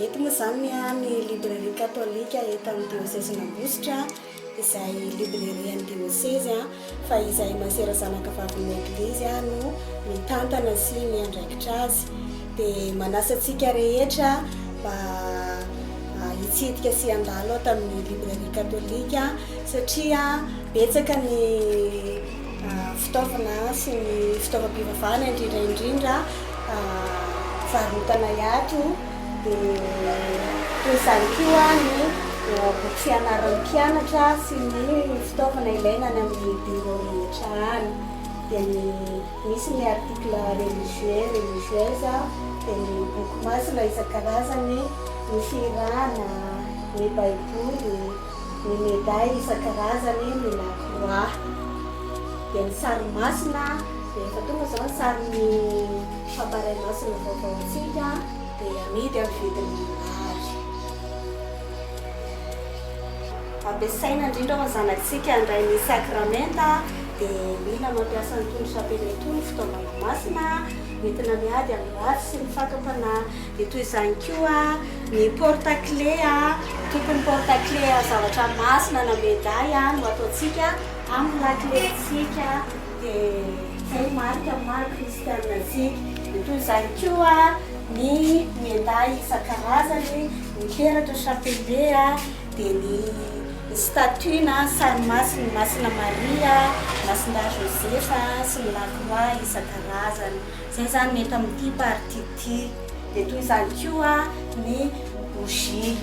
Eto moa izany ny librairie katolika eto amin'ny diôsezin'Ambositra izay librairie an'ny diôsezy. fa izay masera zanaka vavin'ny Eglizy no mitantana sy miandraikitra azy, dia manasa antsika rehetra mba hitsidika sy handalo ato amin'ny Librairie Katolika satria betsaka ny fitaovana sy ny fitaovam-pivavahana indrindra indrindra varotana ato. Dia toy izany koa ny boky fianaran'ny mpianatra sy ny fitaovana ilaina any amin'ny bureau rehetra any. Dia ny misy ny article religieux, religieuse, dia ny boky masina isan-karazany, ny fihirana, ny baiboly, ny medaille isan-karazany, ny la croix. Dia ny sary masina, dia efa tonga izao ny sarin'ny. Fa tarehy masina vaovaontsika dia amidy amin'ny vidiny mirary. Ampiasaina indrindra ao amin'ny zanakitsika handray ny sakramenta dia mila mampiasa an'itony chapelle itony fitaovana masina entina miady amin'ny ratsy sy ny fakam-panahy. Dia toy izany koa ny porte clé, tokony porte clé zavatra masina na medaille no ataontsika amin'ny laklentsika. Dia izay no marika ny maha kristiana antsika. Dia toy izany koa ny miandahy isan-karazany, ny peratra, chapelet, dia ny statue na sary masin'i Masina Maria, Masindahy Joseph sy ny la croix isan-karazany. Izay izany no eto amin'ity partie ity. Dia toy izany koa ny bougie.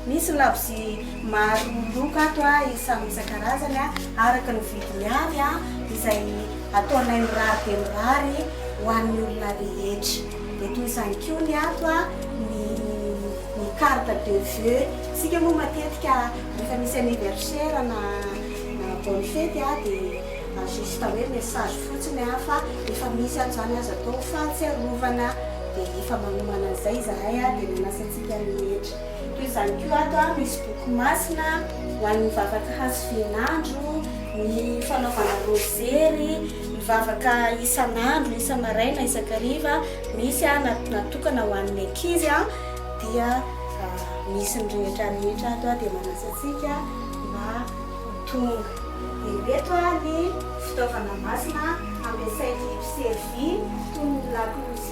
Misy labozia maro loko ato a, samy isan-karazany a, araka ny vidiny avy a, izay ataonay mirary dia mirary ho an'ny olona rehetra. Dia toy izany koa ny ato a, ny ny carte de vœux, isika moa matetika rehefa misy anniversaire na na bonne fety a, dia juste hoe message fotsiny a, fa efa misy ato izany aza atao fahatsiarovana, dia efa manomana an'izay izahay a, dia nanasa antsika. Mpianany rehetra. Toy izany koa ato misy boky masina ho an'ny vavaka hazovian'andro, ny fanaovana rozery, mivavaka isan'andro, isa-maraina, isan-kariva, misy natokana ho an'ny ankizy dia misy ny rehetra rehetra ato dia manasa antsika mba ho tonga. Dia ireto ny fitaovana masina ampiasain'ny mpiservy toy ny lakolosy.